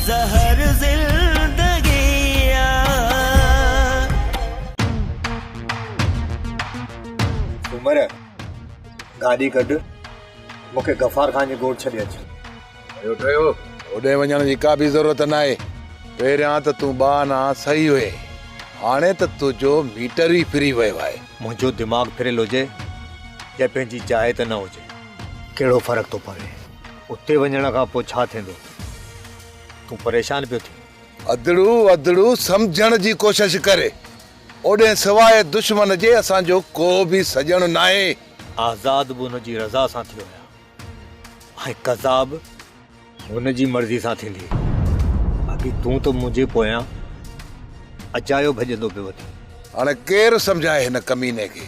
زهر زندگي آ. عمر! گاڏي ڪڍ، مون کي غفار خان جي ڳوٺ ڇڏي اچ. ٺهيو ٺهيو، هوڏي وڃڻ جي ڪا به ضرورت ناهي. پهريان ته تون ٻه آنا سهي هئين، هاڻي ته تنهنجو ميٽر ئي ڦري ويو آهي. منهنجو دماغ ڦريل هجي يا پنهنجي جاء تي نه هجي. ڪهڙو فرق ٿو پوي، اتي وڃڻ کان پوء ڇا ٿيندو؟ تون پريشان پيو ٿين. ادڙو ادڙو سمجهڻ جي ڪوشش ڪر. اوڏهين سواء دشمن جي اسان جو ڪو به سڄڻ ناهي. آزاد به هن جي رضا سان ٿيو هيا ۽ قضا به هن جي مرضي سان ٿيندي. باقي تون ته منهنجي پويان اجايو ڀڄندو پيو وتين. هاڻ ڪير سمجهائي هن ڪميني کي.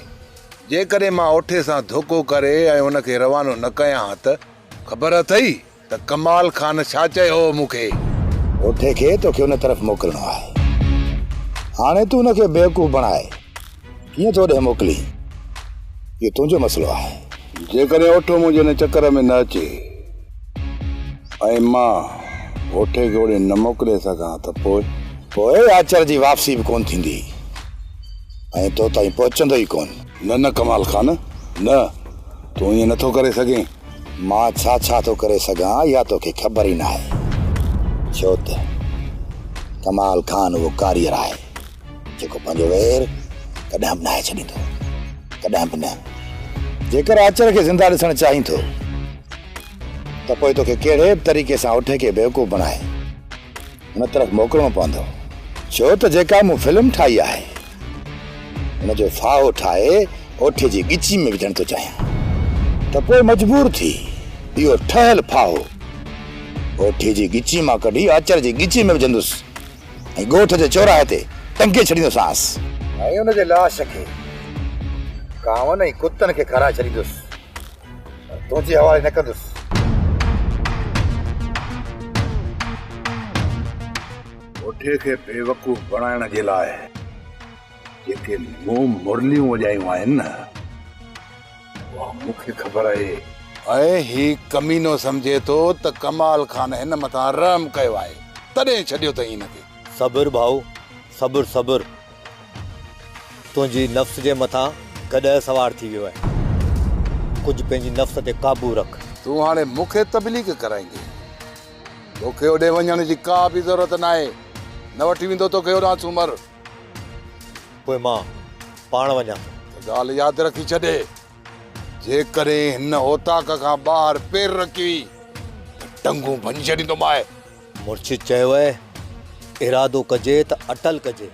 جيڪڏهن مان اوٺي سان ڌوڪو ڪري ۽ هن کي روانو نه ڪيان ها ته خبر اٿئي ته ڪمال خان ڇا چيو هو مون کي؟ ڀوٽي کي توکي ان طرف موڪلڻو آهي. هاڻي تون ان کي بيوقوف بڻائي ڪيئن ٿو اوڏهين موڪلين، اهو تنهنجو مسئلو آهي. جيڪڏهن اوٺو منهنجي ان چڪر ۾ نه اچي ۽ مان ڀوٽي کي اوڏهين نه موڪلي سگهان ته پوء؟ پوء آچر جي واپسي به ڪونه ٿيندي ۽ تو تائين پهچندو ئي ڪونه. نه نه ڪمال خان نه، تون ائين نه ٿو ڪري سگهين. مان ڇا ڇا ٿو ڪري سگهان اها توکي خبر ئي ناهي ڇو ته ڪمال خان اهو ڪاريئر آهي جيڪو پنهنجو وير ڪڏهن به ناهي ڇڏيندو ڪڏهن به نه جيڪر آچر کي زنده ڏسڻ چاهين ٿو ته پوء توکي ڪهڙي به طريقي سان اٺ کي بيوقوف بڻائي هن طرف موڪلڻو پوندو، ڇو ته جيڪا مون فلم ٺاهي آهي، ان جو ڦاهو ٺاهي اوٺي جي ڳچي ۾ وجهڻ ٿو چاهيان ته پوء مجبور ٿي اهو ٺهيل ڦاهو اوٺي جي ڳچي مان ڪڍي آچر جي ڳچي ۾ وجهندس ۽ ڳوٺ جي چوراهي تي ٽنگي ڇڏيندوسانس ۽ ان جي لاش کي ڪانون ۽ ڪتن کي کارائي ڇڏيندس. تنهنجي حوالي نه ڪندس. پوٺي کي بيوقوف بڻائڻ جي لاء جيڪي مون مرليون وڄايون آهن نه اها مون کي خبر آهي. ۽ هي ڪمينو سمجهي ٿو ته ڪمال خان هن مٿان رحم ڪيو آهي تڏهن ڇڏيو اٿئي هن کي. صبر ڀائو صبر صبر تنهنجي نفس جي مٿان گڏهه سوار ٿي ويو آهي. ڪجهه پنهنجي نفس تي قابو رک. تون هاڻي مون کي تبليغ ڪرائيندين. تو کي اوڏي وڃڻ جي ڪا به ضرورت ناهي. نه وٺي ويندو تو کي اوڏانهن سومر. پوء مان پاڻ وڃان ٿو. هڪ ڳالهه ياد رکي ڇڏ. جيڪڏهن هن اوطاق کان ٻاهر پير رکيئي ته ٽنگون ڀڃي ڇڏيندومانء. مرشد چيو اهي ارادو ڪجي ته اٽل ڪجي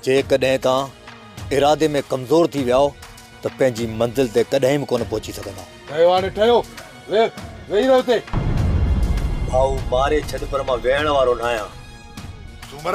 جيڪڏهن توهان ارادي ۾ ڪمزور ٿي وياو ته پنهنجي منزل تي ڪڏهن به ڪونه پهچي سگهنداو. ٺهيو هاڻي ٺهيو ويهه ويهي رهه اتي. ڀائو ماري ڇڏ پر مان ويهڻ وارو ناهيان. سومر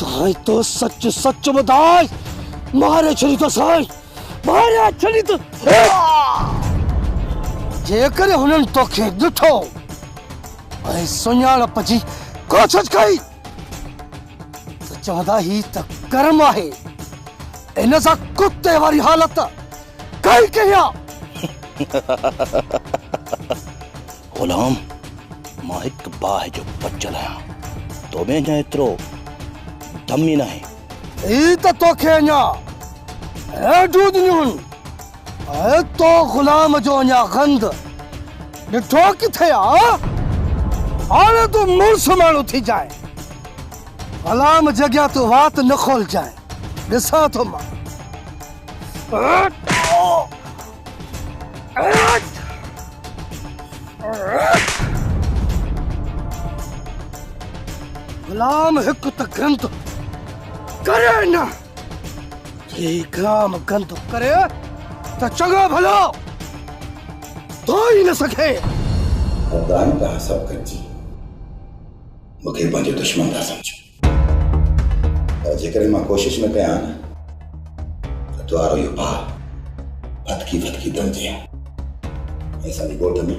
سائين تو سچ سچ ٻڌاء ماري ڇڏي تو سائين ماري ڇڏي تو جيڪڏهن هنن توکي ڏٺو ۽ سڃاڻپ جي ڪوشش ڪئي ته چوندا هي ته ڪرم آهي ان سان ڪتي واري حالت ڪئي ڪيا غلام! مان هڪ باهه جو بچل آهيان، تو ۾ اڃا ايترو دم ئي ناهي. هي ته توکي اڃا هيڊون ڏنيون هن ۽ تو غلام جو اڃا غند ڏٺو ڪٿي آ؟ هاڻي تون مڙس ماڻهو ٿي جانء. غلام جي اڳيان تون وات نه کولجانء، ڏسان ٿو مان. غلام هڪ ته گند ڪري نه جي غلام گند ڪري ته چڱو ڀلو تو ئي نه سکي خداي ته حساب ڪجي مونکي پنهنجو دشمن ٿا سمجهو جيڪڏهن مان ڪوشش نه ڪيان ته توهارو اهو ڀاء ڦٿڪي ڦٿڪي دمجي ۽ اسان جي ڳوٺ ۾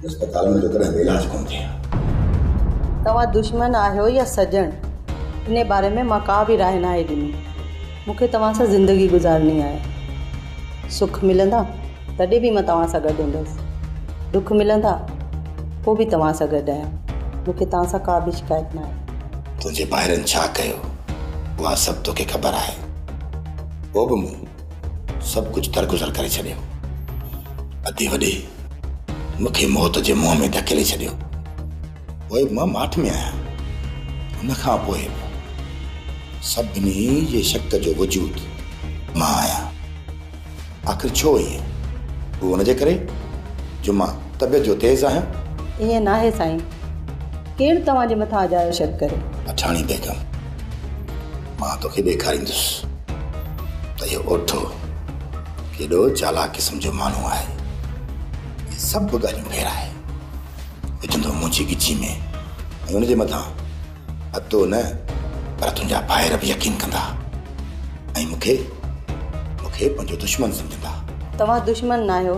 اسپتال ۾ ڪڏهن به علاج ڪونه ٿئي توهان دشمن آهيو يا سڄڻ ان باري ۾ مان ڪا به راء ناهي ڏني مون کي توهان سان زندگي گذارڻي آهي سک ملندا تڏهن به مان توهان سان گڏ هوندس ڏک ملندا پوء به توهان سان گڏ آهيان مون کي توهان سان ڪا به شڪايت نه آهي. تنهنجي ڀائرن ڇا ڪيو اها سڀ توکي خبر آهي پوء به مون سڀ ڪجهه درگذر ڪري ڇڏيو ادي وڏي مون کي موت جي منهن ۾ ڌڪيلي ڇڏيو پوء مان ماٺ ۾ آهيان ان کان پوء سڀني جي شڪ جو وجود مان آهيان. آخر ڇو ائين؟ هو ان جي ڪري جو مان طبيعت جو تيز آهيان؟ ائين ناهي سائين. ڪير توهان جي مٿان اجايو شڪ ڪري؟ اٺاڻي بيگم، مان توکي ڏيکاريندس ته اهو اوٺو ڪيڏو چالاڪ قسم جو ماڻهو آهي. هي سڀ ڳالهيون ڦيرائي وجهندو منهنجي ڳچي ۾ ۽ ان جي مٿان اڌو نه پر تنهنجا ڀائر به يقين ڪندا ۽ مون کي مون کي پنهنجو دشمن سمجهندا. توهان دشمن ناهيو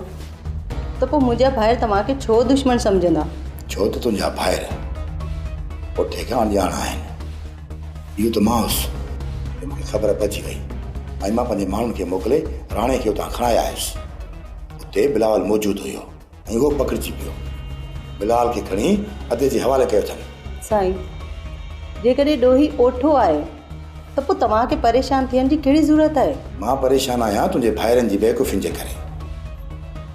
ته پوء منهنجا ڀائر توهان کي ڇو دشمن سمجهندا؟ ڇو ته تنهنجا ڀائر پٺي کان اڻڄاڻ آهن. اهو ته مان هوس جو مون کي خبر پئجي وئي ۽ مان پنهنجي ماڻهن کي موڪلي راڻي کي اتان کڻائي آيس. اتي بلاول موجود هيو. ۽ اهو پکڙجي پيو. بلال کي کڻي ادي جي حوالي ڪيو اٿن. سائين! جيڪڏهن ڏوهي اوٺو آهي ته پوء توهان کي پريشان ٿيڻ جي ڪهڙي ضرورت آهي؟ مان پريشان آهيان تنهنجي ڀائرن جي بيوقوفين جي ڪري.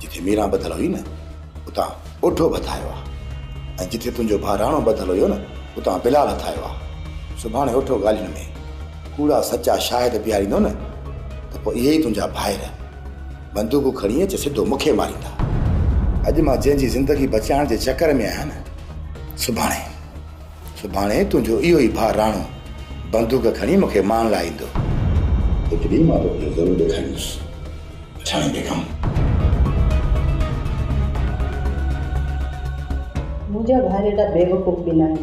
جتي ميران ٻڌل هئي نه اتان اوٺو به هٿ آيو آهي ۽ جتي تنهنجو ڀاء راڻو ٻڌل هيو نه اتان بلال هٿ آيو آهي. سڀاڻي اوٺو ڳالهين ۾ ڪوڙا سچا شاهد بيهاريندو نه ته پوء اهي ئي تنهنجا ڀائر. بندوق کڻي اچ سڌو مون کي ماريندا. اڄ مان جنهن جي زندگي بچائڻ جي چڪر ۾ آهيان نه سڀاڻي سڀاڻي تنهنجو اهو ئي ڀاء راڻو بندوق کڻي مون کي مارڻ لاء ايندو. هڪ ڏينهن مان توکي ضرور ڏيکاريندس پٺاڻي بيگم. منهنجا ڀائر ايڏا بيوقوف به ناهن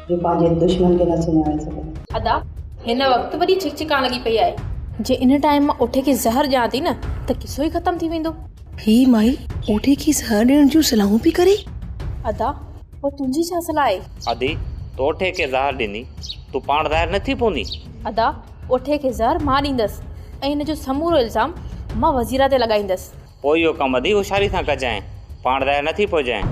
جو پنهنجي دشمن کي نه سڃاڻي سگهي. ادا هن وقت وڏي ڇڪ ڇڪان لڳي پئي آهي. جي ان ٽائيم مان اوٺي کي زهر ڏيان ٿي نه ته قصو ئي ختم ٿي ويندو. هي مائي اوٺي کي زهر ڏيڻ جون صلاحون پئي ڪري. ادا پوء تنهنجي ڇا صلاح آهي. ادي تو اوٺي کي زهر ڏيندي تون پاڻ ظاهر نه ٿي پوندي. ادا اوٺي کي زهر مان ڏيندس ۽ هن جو سمورو الزام مان وزيره تي لڳائيندس. پوء اهو ڪم وڌيڪ هوشياري سان ڪجانء، پاڻ ضايع نه ٿي پوجانء.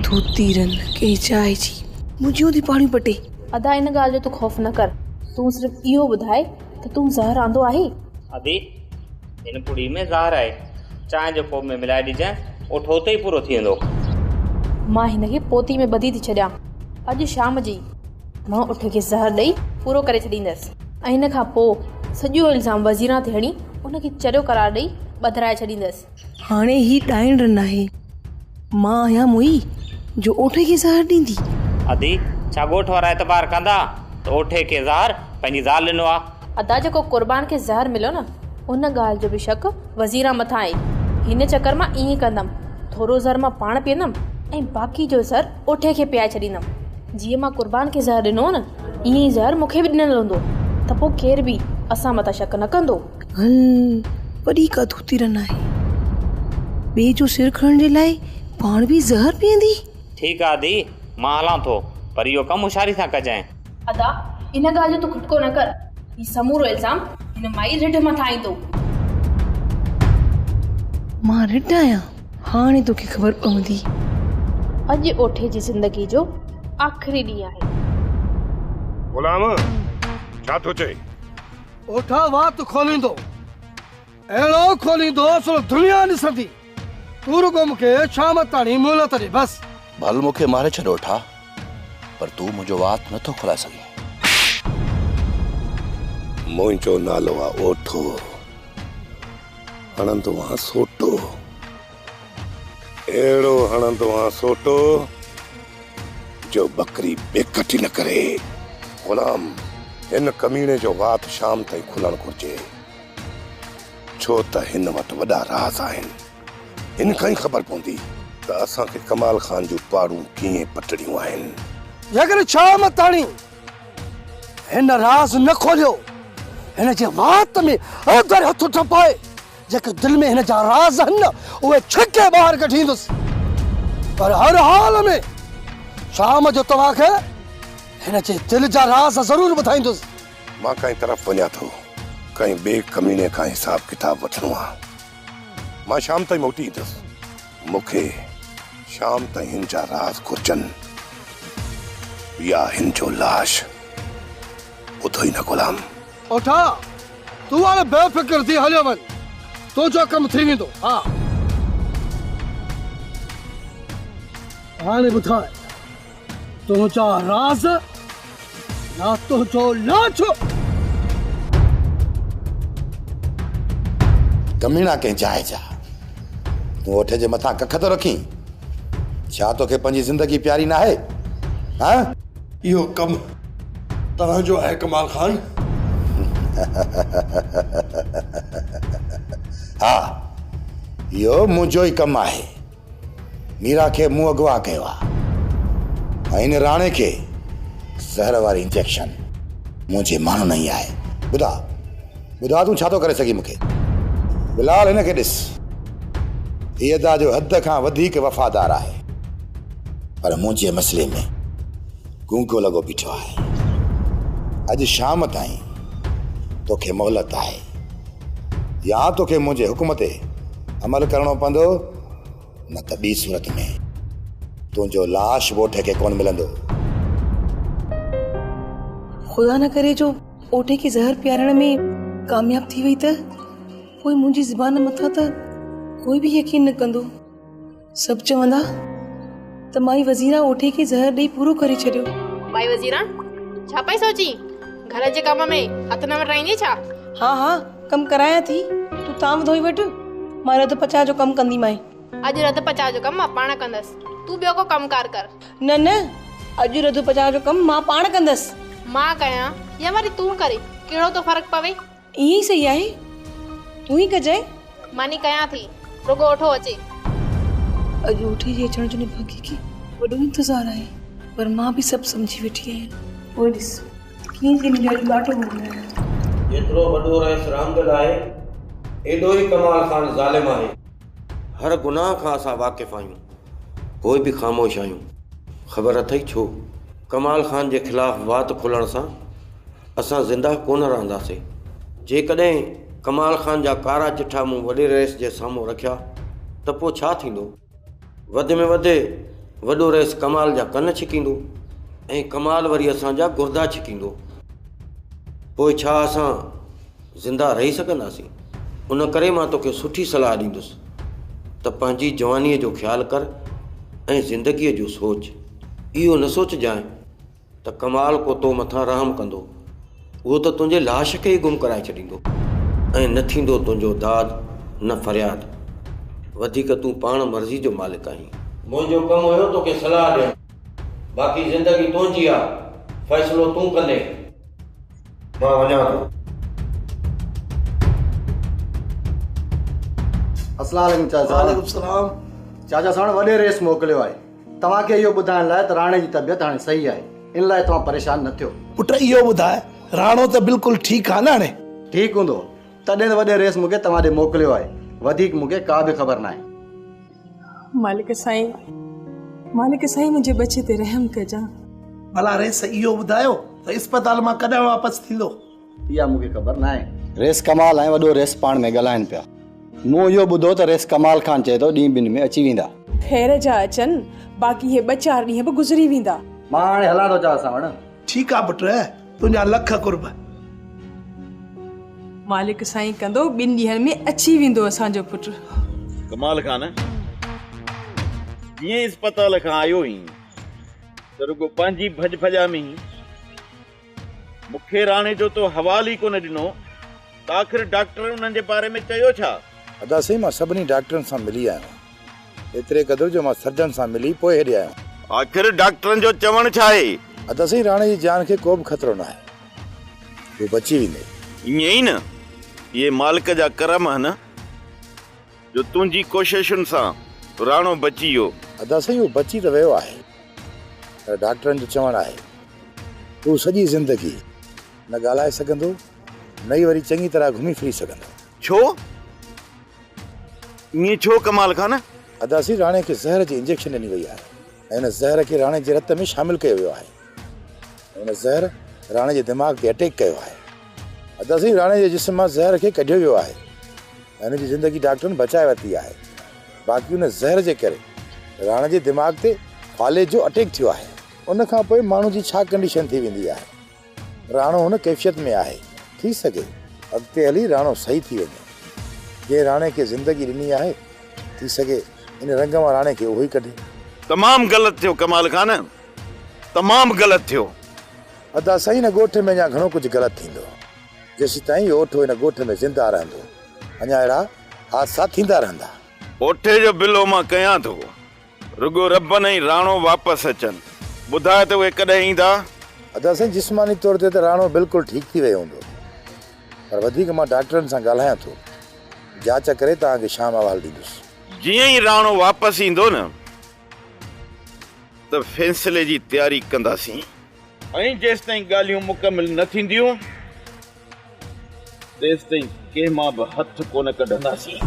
تو تيرن کي چائي جي منهنجيون ٿي پاڙيون پٽين. ادا ان ڳالهه جو تون خوف نه ڪر، تون صرف اهو ٻڌاء ته تون زهر آندو آهي؟ ادي هن پڙي ۾ زهر آهي، چانهه جي ڪوپ ۾ ملائي ڏجانء، اٺ اتي ئي پورو ٿي ويندو. مان هن کي پوتي ۾ ٻڌي ٿي ڇڏيان، اڄ شام جي ئي. مان اٺ کي زهر ڏئي پورو ڪري ڇڏيندس ۽ ان کان پوء سڄو الزام وزيران تي هڻي ان کي چريو قرار ڏئي ٻڌرائي ڇڏيندس. هاڻي هي ڏائڻ رن آهي. مان آهيان موئي جو اوٺي کي زهر ڏيندي. ادي، ڇا ڳوٺ وارا اعتبار ڪندا ته اوٺي کي زهر پنهنجي زال ڏنو آ؟ ادا جيڪو قربان کي زهر مليو نه ان ڳالهه جو به شڪ وزيران مٿان آهي. هن چڪر مان ائين ڪندم ٿورو زهر مان پاڻ پيئندم ۽ باقي جو زهر اٺي کي پيائي ڇڏيندم. جيئن مان قربان کي زهر ڏنو هو نه، ائين ئي زهر مون کي به ڏنل هوندو ته پوء ڪير به اسان مٿان شڪ نه ڪندو. هن وڏي ڪا ڌوتي رن آهي. ٻئي جو سر کڻڻ جي لاء پاڻ به زهر پيئندي. ٺيڪ آ ڌيء، مان هلان ٿو، پر اهو ڪم هوشياري سان ڪجانء. ادا ان ڳالهه جو تون کٽڪو نه ڪر، هي سمورو الزام هن مائي رڍ مٿان ايندو. مان رڍ آهيان؟ هاڻي توکي خبر پوندي. اڄ اوٺي جي زندگي جو آخري ڏينهن آهي. غلام ڇا ٿو چئين؟ اوٺا وات کوليندو. اهڙو کوليندو سو دنيا ڏسندي. تون رڳو مون کي شام تاڻي مهلت ڏي بس. ڀل مون کي ماري ڇڏ اوٺا پر تون منهنجو وات نه ٿو کولائي سگهين. منهنجو نالو آ اوٺو. هڻندو آن سوٽو. اهڙو هڻندو آن سوٽو جو ٻڪري به ڪٽي نه ڪري. غلام هن ڪميڻي جو وات شام تائين کلڻ گهرجي. ڇو ته هن وٽ وڏا راز آهن. هن کان ئي خبر پوندي ته اسان کي ڪمال خان جون پاڙون ڪيئن پٽڻيون آهن. جيڪڏهن شام تاڻي هن راز نه کوليو، هن جي وات ۾ اوندهر هٿ ٽپائي، جيڪي دل ۾ هن جا راز آهن نه، اهي ڇڪي ٻاهر ڪڍيندس. پر هر حال ۾ شام جو توهان کي هن جي دل جا راز ضرور ٻڌائيندس. مان ڪنهن طرف وڃان ٿو، ڪنهن ٻئي ڪميڻي کان حساب ڪتاب وٺڻو آ. مان شام تائين موٽي ايندس. مون کي شام تائين هن جا راز گهرجن يا هن جو لاش. ٻڌو ئي نه غلام. اوٺا، تون هاڻي بي فڪر ٿي هليو وڃ. تنهنجو ڪم ٿي ويندو. ها. هاڻي ٻڌاء، تنهنجا راز يا تنهنجو لانچو. ڪميڻا ڪنهن جاء جا تون اٺ جي مٿان ڪک ٿو رکين ڇا توکي پنهنجي زندگي پياري ناهي ها. اهو ڪم توهان جو آهي ڪمال خان. ها اهو منهنجو ئي ڪم آهي. ميرا کي مون اغوا ڪيو آ ۽ هن راڻي کي زهر واري انجيڪشن منهنجي ماڻهو نه هي آهي ٻڌا ٻڌا تون ڇا ٿو ڪري سگهين مونکي بلال هن کي ڏس هي ادا جو حد کان وڌيڪ وفادار آهي پر منهنجي مسئلي ۾ گونگو لڳو بيٺو آهي اڄ شام تائين توکي مهلت آهي يا توکي منهنجي حڪم تي عمل ڪرڻو پوندو نه ته ٻي صورت ۾ تنهنجو لاش ڳوٺ کي ڪونه ملندو. خدا نه ڪري جو ڳوٺ کي زهر پيارڻ ۾ ڪامياب ٿي وئي ته پوء منهنجي زبان مٿان ته ڪوئي به يقين نه ڪندو. سڀ چوندا ته مائي وزيرا اوٺي کي زهر ڏئي پورو ڪري ڇڏيو. مائي وزيرا ڇا پئي سوچين؟ گهر جي ڪم ۾ هٿ نه وٽرائيندين ڇا؟ ها ها ڪم ڪرايان ٿي، تون تانء ڌوئي وٺ، مان رڌ پچاء جو ڪم ڪنديمانء. اڄ رڌ پچاء جو ڪم مان پاڻ ڪندس، تون ٻيو ڪو ڪم ڪار ڪر. نه نه، اڄ رڌ پچاء جو ڪم مان پاڻ ڪندس. مان ڪيان يا وري تون ڪرين، ڪهڙو ٿو فرق پوي؟ ائين ئي سهي آهي، تون ئي ڪجانء. مان ئي ڪيان ٿي، رڳو اوٺو اچي. اڄ اوٺي جي اچڻ جو نڀاڳي کي وڏو انتظار آهي، پر مان به سڀ سمجهي ويٺي آهيان. پوء ڏس، ڪيئن ٿي ملي اڄ ٻاٽو ڀوڳنائين. جيترو وڏو رئيس رامدل آهي، ايڏو ئي ڪمال خان ظالم آهي. هر گناهه کان اسان واقف آهيون، پوء به خاموش آهيون. خبر اٿئي ڇو؟ ڪمال خان جي خلاف وات کولڻ سان. اسان زندهه ڪونه رهنداسين. جيڪڏهن ڪمال خان جا ڪارا چٺا مون وڏي رئيس جي سامهون رکيا ته پوء ڇا ٿيندو؟ وڌ ۾ وڌ وڏو رئيس ڪمال جا ڪن ڇڪيندو ۽ ڪمال وري اسان جا گردا ڇڪيندو. پوء ڇا اسان زندهه رهي سگهنداسين؟ ان ڪري مان توکي سٺي صلاح ڏيندس ته پنهنجي جوانيء جو خيال ڪر ۽ زندگيء جو سوچ. اهو نه سوچجانء ته ڪمال ڪو تو مٿان رحم ڪندو، اهو ته تنهنجي لاش کي ئي گم ڪرائي ڇڏيندو ۽ نه ٿيندو تنهنجو داد نه فرياد، وڌيڪ تون پاڻ مرضي جو مالڪ آهين. منهنجو ڪم هيو توکي صلاح ڏيڻ، باقي زندگي تنهنجي آ، فيصلو تون ڪندين. مان وڃان ٿو. السلام عليڪم چاچا ساڻ. وعليڪم السلام. چاچا ساڻ وڏي رئيس موڪليو آهي. توهان کي اهو ٻڌائڻ لاء ته راڻي جي طبيعت هاڻي صحيح آهي، ان لاء توهان پريشان نه ٿيو. پٽ اهو ٻڌاء، راڻو ته بلڪل ٺيڪ آهي نه هاڻي؟ ٺيڪ هوندو، تڏهن ته وڏي رئيس مون کي توهان ڏي موڪليو آهي، وڌيڪ مون کي ڪا به خبر ناهي. مالڪ سائين، مالڪ سائين منهنجي ٻچي تي رحم ڪجان. ڀلا رئيس اهو ٻڌايو ته اسپتال مان ڪڏهن واپس ٿيندو؟ اها مون کي خبر ناهي. ريس ڪمال ۽ وڏو ريس پاڻ ۾ ڳالهائين پيا. مون اهو ٻڌو ته ريس ڪمال خان چئي ٿو ڏينهن ٻن ۾ اچي ويندا. خير جا اچن، باقي هي ٻه چار ڏينهن به گذري ويندا. مان هاڻي هلان ٿو چانس سان وڻ. ٺيڪ آ پٽ، تنهنجا لک قرب. مالڪ سائين ڪندو، ٻن ڏينهن ۾ اچي ويندو اسان جو پٽ. ڪمال خان جيئن اسپتال کان آيو هئين ته رڳو پنهنجي ڀڄ ڀڄا ۾ هين. مون کي راڻي جو تو حوال ئي ڪونه ڏنو ته آخر ڊاڪٽرن انهن جي باري ۾ چيو ڇا؟ ادا سائين مان سڀني ڊاڪٽرن سان ملي آيو آهيان ايتري قدر جو مان سرجن سان ملي پوء هيڏي آيو آهيان. آخر ڊاڪٽرن جو چوڻ ڇا آهي؟ ادا سائين راڻي جي جان کي ڪو به خطرو ناهي هو بچي ويندي. ائين ئي نه؟ اهي مالڪ جا ڪرم هن. جو تنهنجي ڪوششن سان راڻو بچي ويو. ادا سائين هو بچي ته ويو آهي پر ڊاڪٽرن جو چوڻ آهي ته هو سڄي زندگي نه ڳالهائي سگهندو نه ئي وري چڱي طرح گهمي ڦري سگهندو. ڇو؟ ائين ڇو ڪمال خان؟ ادا سائين راڻي کي زهر جي انجيڪشن ڏني وئي آهي ۽ ان زهر کي راڻي جي رت ۾ شامل ڪيو ويو آهي. هن زهر راڻي جي دماغ تي اٽيڪ ڪيو آهي. ادا سائين راڻي جي جسم مان زهر کي ڪڍيو ويو آهي ۽ هن جي زندگي ڊاڪٽرن بچائي ورتي آهي باقي ان زهر جي ڪري راڻي جي دماغ تي فالج جو اٽيڪ ٿيو آهي. ان کان پوء ماڻهو جي ڇا ڪنڊيشن ٿي ويندي آهي. راڻو هن ڪيفيت ۾ آهي. ٿي سگهي اڳتي هلي راڻو صحيح ٿي وڃي. جنهن راڻي کي زندگي ڏني آهي ٿي سگهي ان رنگ مان راڻي کي اهو ئي ڪڍي. تمام غلط ٿيو ڪمال خان تمام غلط ٿيو. ادا سائين هن ڳوٺ ۾ اڃا گهڻو ڪجهه غلط ٿيندو جيسيتائين اهو اوٺو هن ڳوٺ ۾ زنده رهندو اڃا اهڙا حادثا ٿيندا رهندا. اوٺي جو بلو مان ڪيان ٿو رڳو ربن ۽ راڻو واپس اچن ٻڌاء ته اهي ڪڏهن ايندا. ادا سائين جسماني طور تي ته راڻو بلڪل ٺيڪ ٿي ويو هوندو پر وڌيڪ مان ڊاڪٽرن سان ڳالهايان ٿو جاچ ڪري توهان کي شام احوال ڏيندس. جيئن ئي راڻو واپس ايندو نه ته فيصلي جي تياري ڪنداسين. ۽ جيستائين ڳالهيون مڪمل نه ٿينديون تيستائين ڪنهن مان به هٿ ڪونه ڪڍنداسين.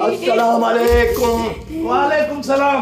السلام عليڪم. وعليڪم السلام.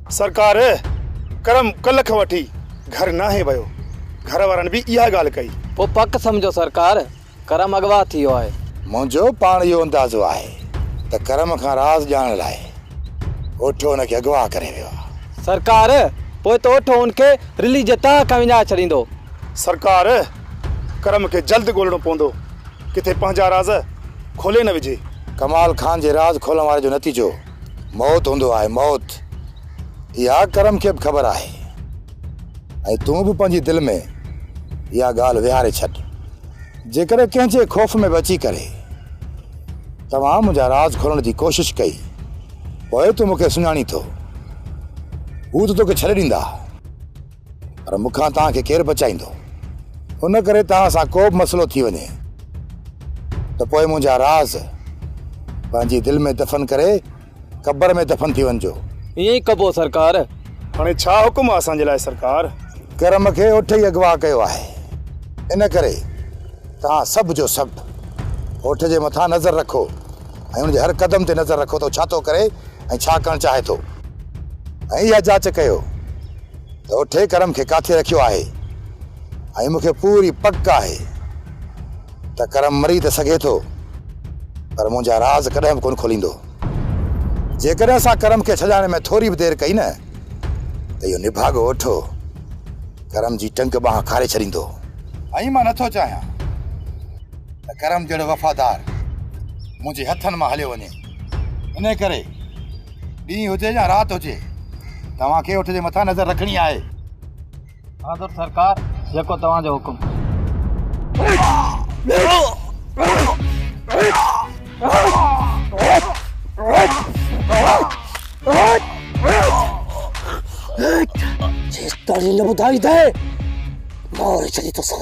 سرڪار! ڪرم ڪلهه کان وٺي گهر ناهي ويو. گهر وارن به اها ڳالهه ڪئي. پوء پڪ سمجهو سرڪار! ڪرم اغوا ٿي ويو آهي. منهنجو پاڻ اهو اندازو آهي ته ڪرم کان راز ڄاڻڻ لاء اوٺو ان کي اغوا ڪري ويو آهي. سرڪار! پوء ته اوٺو ان کي رلي جي تهه کان وڃائي ڇڏيندو. سرڪار! ڪرم کي جلد ڳولڻو پوندو. ڪٿي پنهنجا راز کولي نه وجهي. ڪمال خان جي راز کولڻ واري جو نتيجو موت هوندو آهي موت. اها ڪرم کي به خبر آهي ۽ تون به پنهنجي دل ۾ اها ڳالهه ويهاري ڇڏ. جيڪڏهن ڪنهن جي خوف ۾ به اچي ڪري توهان منهنجا راز کولڻ جي ڪوشش ڪئي پوء تون مون کي سڃاڻين ٿو. هو ته توکي ڇڏي ڏيندا. پر مون کان توهان کي ڪير بچائيندو؟ ان ڪري توهان سان ڪو به مسئلو ٿي وڃي ته پوء منهنجا راز پنهنجي دل ۾ دفن ڪري قبر ۾ دفن ٿي وڃجو. ائين ئي ڪبو سرڪار. هاڻي ڇا حڪم آهي اسان جي لاء سرڪار؟ ڪرم کي اٺ ئي اغوا ڪيو آهي، ان ڪري توهان سڀ جو سڀ اٺ جي مٿان نظر رکو ۽ ان جي هر قدم تي نظر رکو ته هو ڇا ٿو ڪري ۽ ڇا ڪرڻ چاهي ٿو ۽ اها جاچ ڪيو ته اٺي ڪرم کي ڪاٿي رکيو آهي ۽ مون کي پوري پڪ آهي ته ڪرم مري ته سگهي ٿو پر منهنجا راز ڪڏهن به ڪونه کوليندو. جيڪڏهن اسان ڪرم کي ڇڏائڻ ۾ ٿوري به دير ڪئي نه ته اهو نڀاڳو اٺو ڪرم جي ٽنگ ٻانهن کاري ڇڏيندو. ائين مان نٿو چاهيان ته ڪرم جهڙو وفادار منهنجي هٿن مان هليو وڃي انهي ڪري ڏينهن هجي يا رات هجي توهان کي اٺ جي مٿان نظر رکڻي آهي. حاضر سرڪار جيڪو توهان جو حڪم. جيستائين نه ٻڌائيندين ماري ڇڏيندوسان.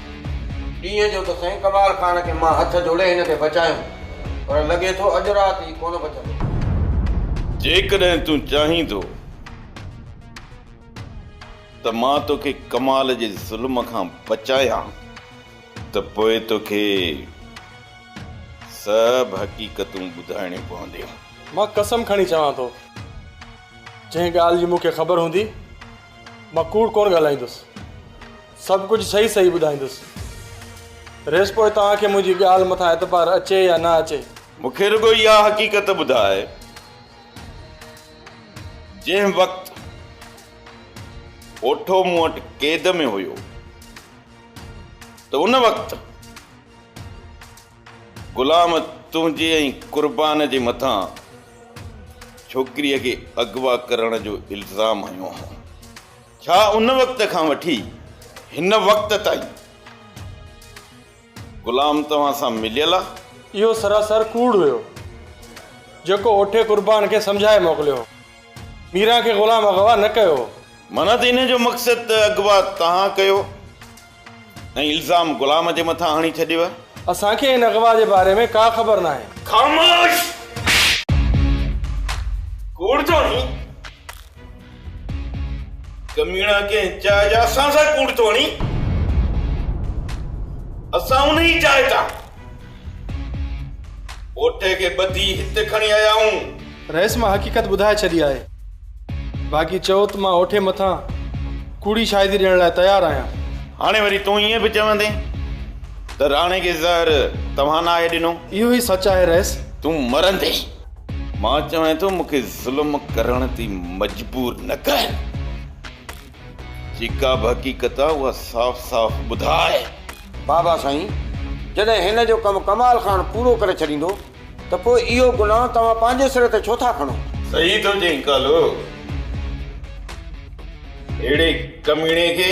ڏينهن جو ته سائين ڪمال خان کي مان هٿ جوڙي هن کي بچايم پر لڳي ٿو اڄ رات هي ڪونه بچندو. جيڪڏهن تون چاهين ٿو ته مان توکي ڪمال جي ظلم کان بچايان ته پوء توکي سڀ حقيقتون ٻڌائڻيون پونديون. مان قسم کڻي چوان ٿو جنهن ڳالهه جي مون کي خبر هوندي مان ڪوڙ ڪونه ڳالهائيندس. سڀ ڪجهه صحيح صحيح ٻڌائيندس. ريس پوء توهان کي منهنجي ڳالهه مٿان اعتبار اچي يا نه اچي. مون کي رڳو اها حقيقت ٻڌاء جنهن وقت پوٺو مون وٽ قيد ۾ هيو ته ان وقت غلام تنهنجي ۽ قربان جي مٿان ڇوڪريء کي اغوا ڪرڻ جو الزام هنيو هو. ڇا ان وقت کان وٺي هن وقت تائين غلام توهان سان مليل آ؟ اهو سراسر ڪوڙ هيو، جيڪو اوٺي قربان کي سمجهائي موڪليو هو. ميران کي غلام اغوا نه ڪيو هو. معنيٰ ته ان جو مقصد ته اغوا توهان ڪيو. ۽ الزام غلام جي مٿان هڻي ڇڏيو. اسان کي هن اغوا جي باري ۾ ڪا خبر ناهي. خاموش! ڪوڙ ٿو هڻين؟ ڪميڻا ڪنهن چاهه جا اسان سان ڪوڙ ٿو هڻين؟ اسان انهي چاهه تان. پوٽي کي ٻڌي هت کڻي آيائون. رئيس مان حقيقت ٻڌائي ڇڏي آهي. باقي چئو ته مان اوٺي مٿان ڪوڙي شاهدي ڏيڻ لاء تيار آهيان. هاڻي وري تون ائين به چوندين ته راڻي کي زهر توهان ناهي ڏنو. اهو ئي سچ آهي رئيس. تون مرندين. مان چوين ٿو مون کي ظلم ڪرڻ تي مجبور نه ڪر. جي ڪا به حقيقت آ اها صاف صاف ٻڌاء. بابا سائين جڏهن هن جو ڪم ڪمال خان پورو ڪري ڇڏيندو ته پوء اهو گناهه توهان پنهنجي سر تي ڇو ٿا کڻو. صحيح ٿو چئين ڪالو اهڙي ڪميڻي کي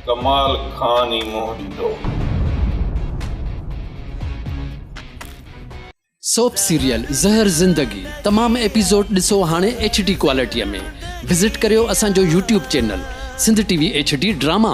ڪمال خان ئي منهن ڏيندو. سوپ سيريل زهر زندگي تمام ايپيسوڊ ڏسو هاڻي ايڇ ڊي ڪوالٽيء ۾ وزٽ ڪريو اسان جو YouTube channel Sindh T V H D drama.